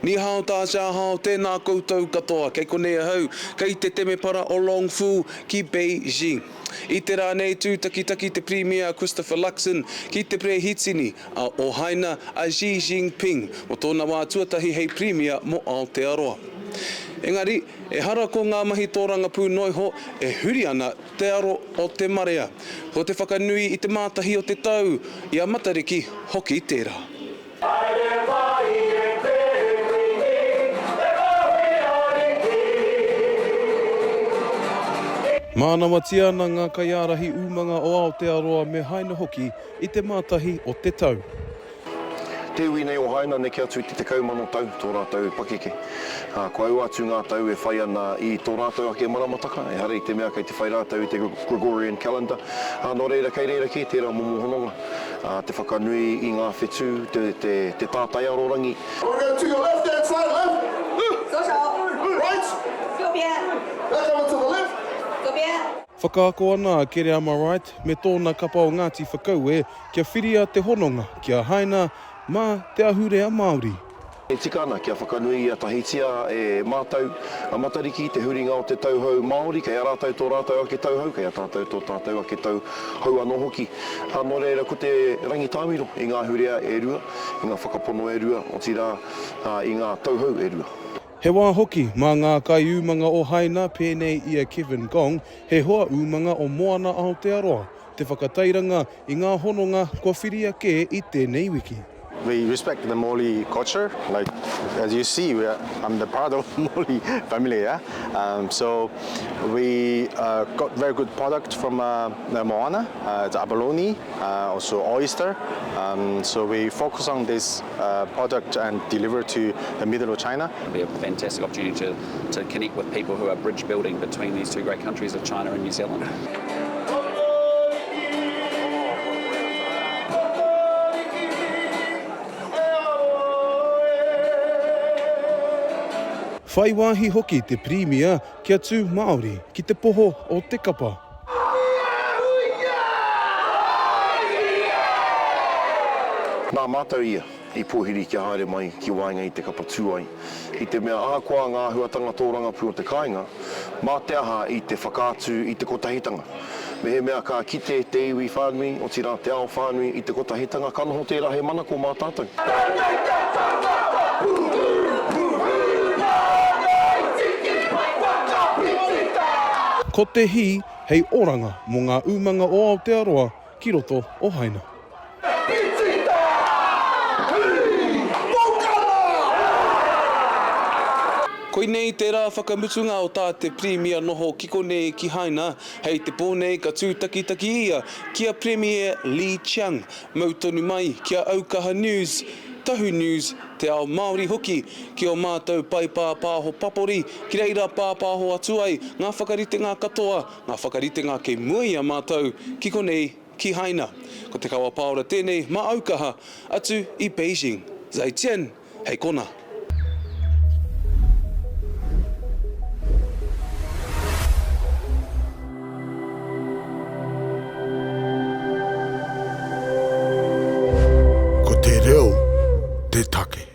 Ni hao ta cha hao, tēnā koutou katoa, kei konei ahau, kei te temepara o Long Fu ki Beijing. I te rā nei tūtakitaki te Pirimia Christopher Luxon ki te Perehitini a Ohaina a Xi Jinping mō tōna wā tuatahi hei Pirimia mō Aotearoa. Engari, ehara ko ngā mahi tōrangapū noa iho e huri ana te aro o te marea. Ko te whakanui i te mātahi o te tau, i a Matariki hoki tērā. Mānawatia ana ngā kaiārahi umanga o Aotearoa me Haina hoki i te Mātahi o te Tau. Te iwi nei o Haina neke atu i te tekau mano tau tō rātou pakeke, ā, kua ua atu ngā tau e whai ana i tō rātou ake maramataka, ehara i te mea kei te whai rātou i te Gregorian Calendar, ā, nō reira kei reira kē tērā momo hononga. Te whakanui i ngā whetū, te tātai arorangi. We're going to your left hand side, left, left, right, back over to the left. Whakaako ana a Kereama Wright me tōna kapa o Ngāti Whakaue kia whiria te hononga kia haina mā te ahurea Māori. E tika ana kia whakanuia tahitia e mātou a Matariki te huringa o te tauhou Māori, kei a rātou tō rātou ake tauhou, kei a tātou tō tātou ake tauhou anō hoki. Ā, nō reira ko te rangitāmiro i ngā ahurea e rua, i ngā whakapono e rua, otirā, i ngā tauhou e rua. He wā hoki, mā ngā kaiūmanga o Haina, pēnei i a Kevin Gong, he hoa umanga o Moana Aotearoa, Te whakatairanga i ngā hononga kua whiria kē i tēnei wiki. We respect the Moli culture, like as you see we are I'm the part of Moli family yeah um so we uh got very good product from uh Moana uh it's abalone uh also oyster um so we focus on this uh product and deliver to the middle of China. It'll be a fantastic opportunity to to connect with people who are bridge building between these two great countries of China and New Zealand. Whai wāhi hoki te Pirimia kia tū Māori ki te poho o te kapa. Nā mātou ia. I pōhiri kia haere mai ki waenga i te kapa tūai. I te mea ahakoa ngā āhuatanga tōrangapū o te kāinga, mā te aha i te whakaatu i te kotahitanga. Mehemea ka kite te iwi whānui, otirā te ao whānui i te kotahitanga, ka noho tērā hei manako mā tātou. Tēnei te whakapapa pūhūhūhū nā ngāi tiki pai whakapiki tā. Ko te hī hei oranga mō ngā umanga o Aotearoa ki roto o Haina. Koinei te rā whakamutunga o tā te Pirimia noho ki konei ki Haina, hei te pō nei ka tūtakitaki ia ki a Pirimia Li Qiang, mau tonu mai ki a Aukaha News, Tahu News, Te Ao Māori hoki, ki ō mātou pae pāpāho papori, ki reira pāpāho atu ai ngā whakaritenga katoa Ngā whakaritenga kei mua i a mātou ki konei, ki Haina. Ko te kawa pāora tēnei mā aukaha atu i Beijing. Zai Chen, hei kona. Ko te reo te take.